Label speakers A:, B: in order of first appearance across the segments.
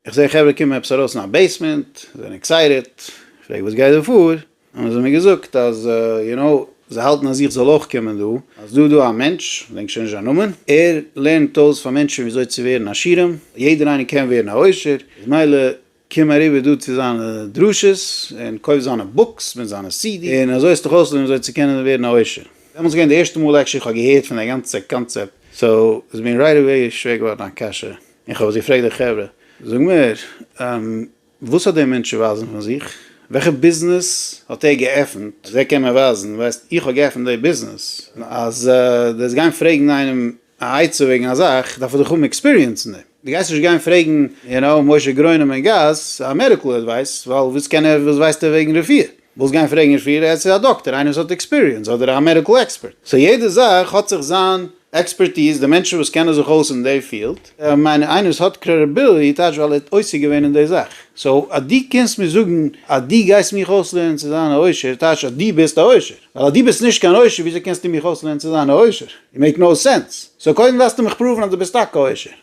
A: איך זעה חברה קומען עפעס ארויס אין א בעיסמענט, זיי זענען עקסייטעד, איך פרעג וואס גייט דא פאר, האבן זיי מיר געזאגט אז יו נאו, זיי האלטן אז איך זאל אויך קומען דא, אז דא דא א מענטש, כ'דענק שוין נישט זיין נאמען, ער לערנט אויס פאר מענטשן וויאזוי צו ווערן עשירים, יעדער איינער קען ווערן א עושר, איז מילא קום אריבער דא צו זיינע דרשות, און קויף זיינע בוקס מיט זיינע סידיס, און אזוי עסט דיך אויס לערנען וויאזוי צו קענען ווערן א עושר. דעמאלטס איז געווען די ערשטע מאל עקשעלי איך האב געהערט פון די גאנצע קאנצעפט, סאו איז מיר רייט אוועי שווער געווארן א קשיא, און כ'האב עס געפרעגט די חברה, זאג מיר, וואס האט דער מענטש צו ווייזן פון זיך? וועלכע ביזנעס האט ער געעפנט אז ער קען מיר ווייזן, ווייסט, איך האב געעפנט דער ביזנעס? אז דו וועסט גיין פרעגן איינעם א עצה וועגן א זאך, דארף ער דאך האבן עקספיריענס אין דעם. דו גייסט נישט גיין פרעגן, יו נאו, משה גרוינעם אין גאס, א מעדיקל עדווייס, ווייל וואס קען ער, וואס ווייסט ער וועגן רפואה? ווילסט גיין פרעגן נישט פריער עטס איז א דאקטער איינער וואס האט עקספיריענס אדער א מעדיקל עקספערט סא יעדע זאך האט זיך זיין עקספערטיז די מענטשן וואס קענען זיך אויס אין די פיעלד מיין איך איינער וואס האט קרעדעביליטי טייטש ווייל ער האט עוסק געווען אין די זאך סא אז דו קומסט מיר זאגן אז דו גייסט מיך אויסלערנען צו זיין א עושר טייטש אז דו ביסט א עושר ווייל אז דו ביסט נישט קיין עושר וויאזוי קענסטו מיך אויסלערנען צו זיין א עושר איט מעיק נאו סענס סא קודם דארפסטו מיך פראוון אז דו ביסט טאקע א עושר.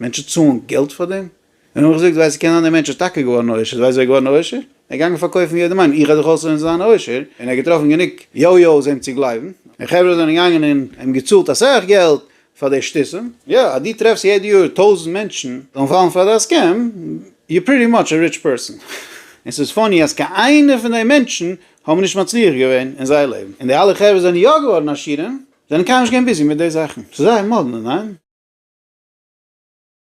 A: מענטשן צאלן געלט פאר דעם? און האב איך געזאגט, ווייסט קען זיין דער מענטש איז טאקע געווארן עושר, ווייסט ווער איז געווארן עושר? ער איז געגאנגען פארקויפן יעדעם איינעם, איך האב דאך אויסערן זיין עושר, און ער האט געטראפן גענוג יו יו'ס אים צו גלייבן, און חברה זענען געגאנגען און אים געצאלט אסאך געלט פאר די שטותים, יא, אז דו טרעפסט יעדע יאר טויזנט מענטשן זאלן פאלן פאר דיין סקעם, יו פריטי מאטש א ריטש פערסאן, און ס'איז פאני אז קיין איינער פון די מענטשן האבן נישט מצליח געווען אין זייער לעבן, און די אלע חברה זענען יא געווארן עשירים, זענען קיינמאל נישט געווען ביזי מיט די זאכן. ס'איז זייער מאדנע, ניין?